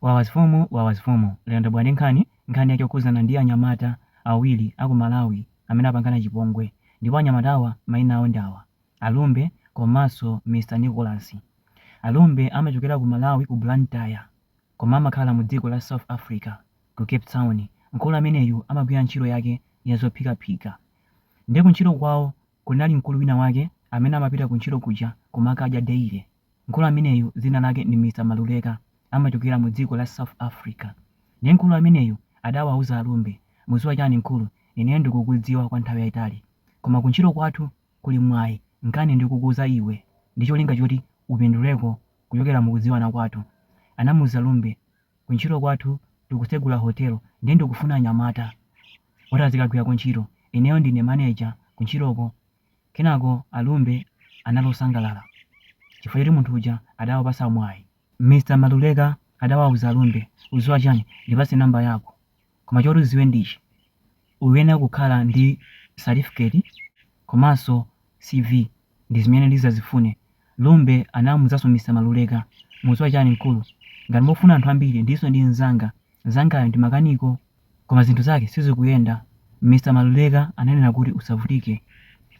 Wawa mfumu Wawa mfumu lero ndabwera ndi nkhani, nkhani yake yokhuzana ndi anyamata awiri aku Malawi amene apangana chipongwe ndipo anyamatawa maina awo ndi awa a Lumbe komanso Mr Nicholas. A Lumbe amachokera ku Malawi ku Blantyre koma amakhala mu dziko la South Africa ku Cape Town. Mkulu ameneyu amagwira ntchito yake ya zophikaphika nde ku ntchito kwawo kunali mkulu wina wake amene amapita ku ntchito kuja kumakadya daily. Mkulu ameneyu dzina lake ndi Mr Maluleka amachokera mu dziko la South Africa ndiye mkulu ameneyu adawauza a Lumbe mudziwa chani mkulu ineyo ndakudziwa kwa nthawi yaitali koma ku ntchito kwathu kuli mwayi nkani ndikukuuza iwe ndi cholinga choti upinduleko kuchokera mu kudziwana kwathu anamuuza Lumbe ku ntchito kwathu tikutsegula hotel ndiye ndikufuna anyamata oti azikagwirako ntchito ineyo ndine manager kuntchitoko Kenako a Lumbe anali osangalala chifukwa choti munthu uja adawapatsa mwayi. Mr Maluleka adawauza a Lumbe, udziwa chani, ndipatse number yako, koma choti udziwe ndi ichi, uyenera kukhala ndi certificate komanso CV ndizimene ndizazifune. Lumbe anamuuzanso Mr Maluleka, mudziwa chani mkulu, ngati mufuna anthu ambiri ndilinso ndi mzanga Mnzangayu ndi makaniko koma zinthu zake sizikuyenda. Mr Maluleka ananena kuti usavutike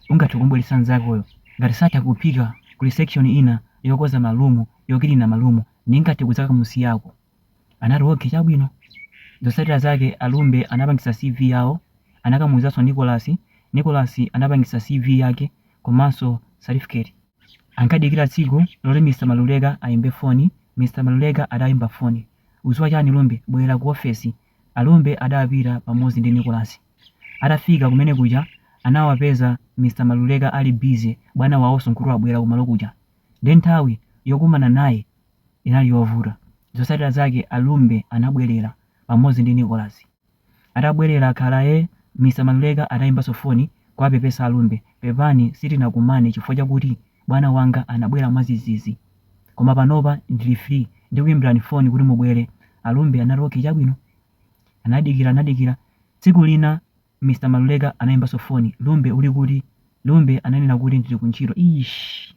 ungathe kumubweretsa mnzakoyo. Ngati satha kuphika kuli section ina yokonza ma room, yokilina ma room ndingathe kudzakamusiyako. Anati okay chabwino. Zotsatira zake a Lumbe anapangitsa CV yawo anakamuuzanso Nicholas, Nicholas anapangitsa CV yake komanso certificate. Ankadikira tsiku loti Mr Maluleka ayimbe foni, Mr Maluleka adayimba foni. Udziwa chani Lumbe, bwera ku ofesi. A Lumbe adapita pamodzi ndi Nicholas. Atafika kumene kuja anawapeza Mr Maluleka ali busy bwana wawonso nkuti wabwera kumalo kuja nde nthawi yokumana naye inali yovuta. Zotsatira zake a Lumbe anabwerera pamodzi ndi Nicholas. Atabwerera akhalaye, Mr. Maluleka adayimbanso foni kuwapepesa a Lumbe, Pepani sitinakumane chifukwa chakuti bwana wanga anabwera mwadzidzidzi. Koma panopa ndili free, ndikuyimbirani foni kuti mubwere. A Lumbe anati, Okay chabwino. Anadikira, anadikira. Tsiku lina Mr. Maluleka anayimbanso foni, Lumbe uli kuti? Lumbe ananena kuti ndili ku ntchito. Eish!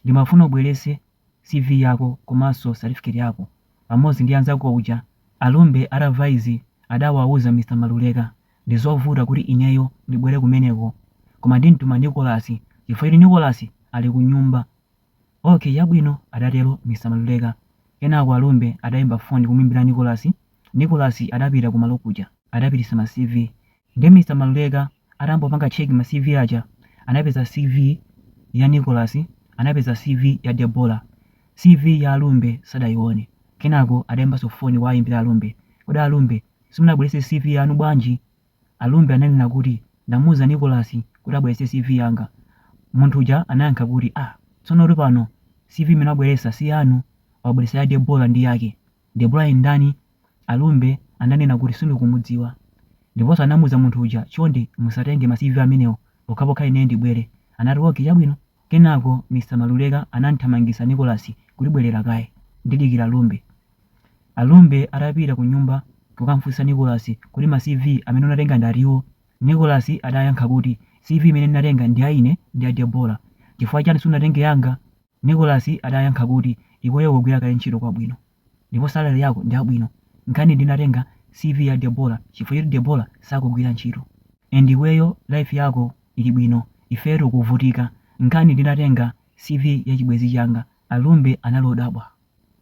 Ndimafuna ubweretse CV yako komanso certificate yako. pamodzi ndi anzako aja a Lumbe atamva izi adawauza Mr Maluleka ndizovuta kuti ineyo ndibwere kumeneko koma ndimtuma Nicholas chifukwa choti Nicholas ali kunyumba Ok chabwino adatero Mr Maluleka kenako a Lumbe adaimba phone kumuimbira Nicholas Nicholas adapita kumalo kuja adapititsa ma CV Ndiye Mr Maluleka atangopanga check ma CV aja anapeza CV ya Nicholas, anapeza CV ya Debora, CV ya Alumbe sadayione. Kenako adayimbanso foni kuwayimbira Alumbe. Kodi Alumbe simunabweretse CV yanu bwanji? Alumbe ananena kuti ndamuuza Nicholas kuti abweretse CV yanga. Munthu uja anayankha kuti ah, tsonotu apa CV imene wabweretsa si yanu, wabweretsa ya Debora ndi yake. Debora ndi ndani? Alumbe ananena kuti sindikumudziwa. Ndiponso anamuuza munthu uja, Chonde musatenge ma CV amenewo pokhapokha ineyo ndibwere. Anati, Okay, chabwino. Kenako Mr. Maluleka anam'thamangitsa Nicholas kuti bwerera kaye, ndidikira Alumbe. Alumbe atapita kunyumba kukam'funsa Nicholas kuti ma CV amene unatenga ndi ati awo, Nicholas adayankha kuti, CV imene ndinatenga ndi ya ine ndi ya Debora. Chifukwa chani sunatenge yanga? Nicholas adayankha kuti, Iweyo ukugwira kale ntchito kwabwino ndipo salary yako ndiyabwino. Nkhani ndinatenga CV ya Debora chifukwa choti Debora sakugwira ntchito and iweyo life yako ili bwino ifeyo tikuvutika. Nkhani ndinatenga CV ya chibwenzi changa. Alumbe anali odabwa.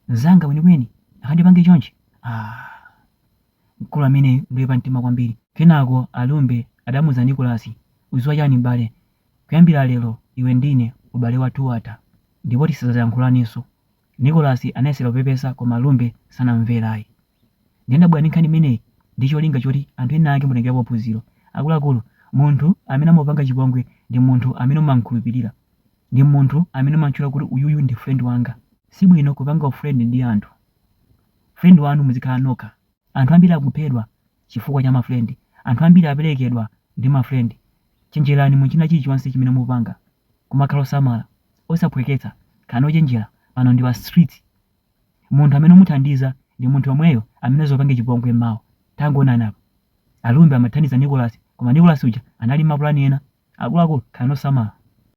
Mzanga weniweni angandipange chonchi? Aaa mkulu ameneyu ndioipa mtima kwambiri. Kenako Alumbe adamuuza Nicholas, Udziwa chani m'bale, Kuyambira lero, iwe ndi ine ubale wathu watha, ndipo tisadzayankhulanenso. Nicholas anayesera kupepesa koma Alumbe sanamumvere ayi. Ndiye ndabwera ndi nkhani imeneyi ndi cholinga choti anthu ena ake mutengerepo phunziro. Akuluakulu, munthu amene amakupanga chipongwe ndi munthu amene umam'khulupirira. Ndi munthu amene umam'tchula kuti uyuyu ndi friend wanga. Si bwino kupanga u friend ndi anthu. Friend wanu muzikhala nokha. Anthu ambiri akuphedwa chifukwa cha ma friend, anthu ambiri aperekedwa ndi ma friend, chenjerani mu china chilichonse chimene mupanga kumakhala osamala, osaphweketsa, khalani ochenjera pano ndi pa street, munthu amene umuthandiza ndi munthu yomweyo amene azakupange chipongwe mmawa, tangoonani apa Alumbe amathandiza Nicholas koma Nicholas uja anali ndi ma plan ena, akuluakulu khalani osamala.